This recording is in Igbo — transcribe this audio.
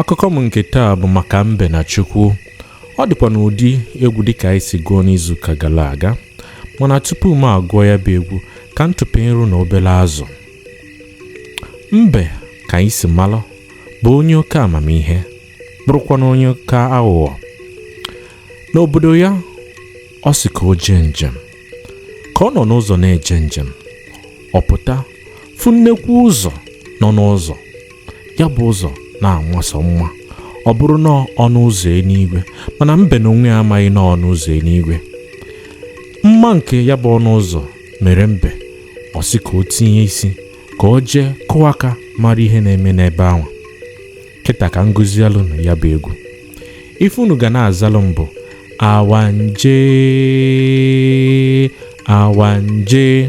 akụkọ m nke taa bụ maka mbe na chukwu ọ dịkwa n'ụdị egwu dịka anyị si gụọ n'izuụka gala aga mana tupu m agụọ ya bụ egwu ka m tụpe nru na obele azụ mbe ka anyị si malụ bụ onye oke amamihe bụrụkwanụ onye oke aghụghọ n'obodo ya ọ sị ka o jee njem ka ọ nọ n'ụzọ na-eje njem ọ pụta fụ nnekwu ụzọ nọ n'ụzọ ya bụ ụzọ na-amasọ mma ọ bụrụ na ọ ọnụ ụzọ enuigwe mana mbe na onwe ya amaghị na ọ ọnụ ụzọ enuigwe mma nke ya bụ ọnụ ụzọ mere mbe ọ sị ka o tinye isi ka o jee kụọ aka mara ihe na-eme n'ebe anwa kịta ka m gụzielụ unu ya bụ egwu ife unu ga na-azalụ m bụ awanje awanje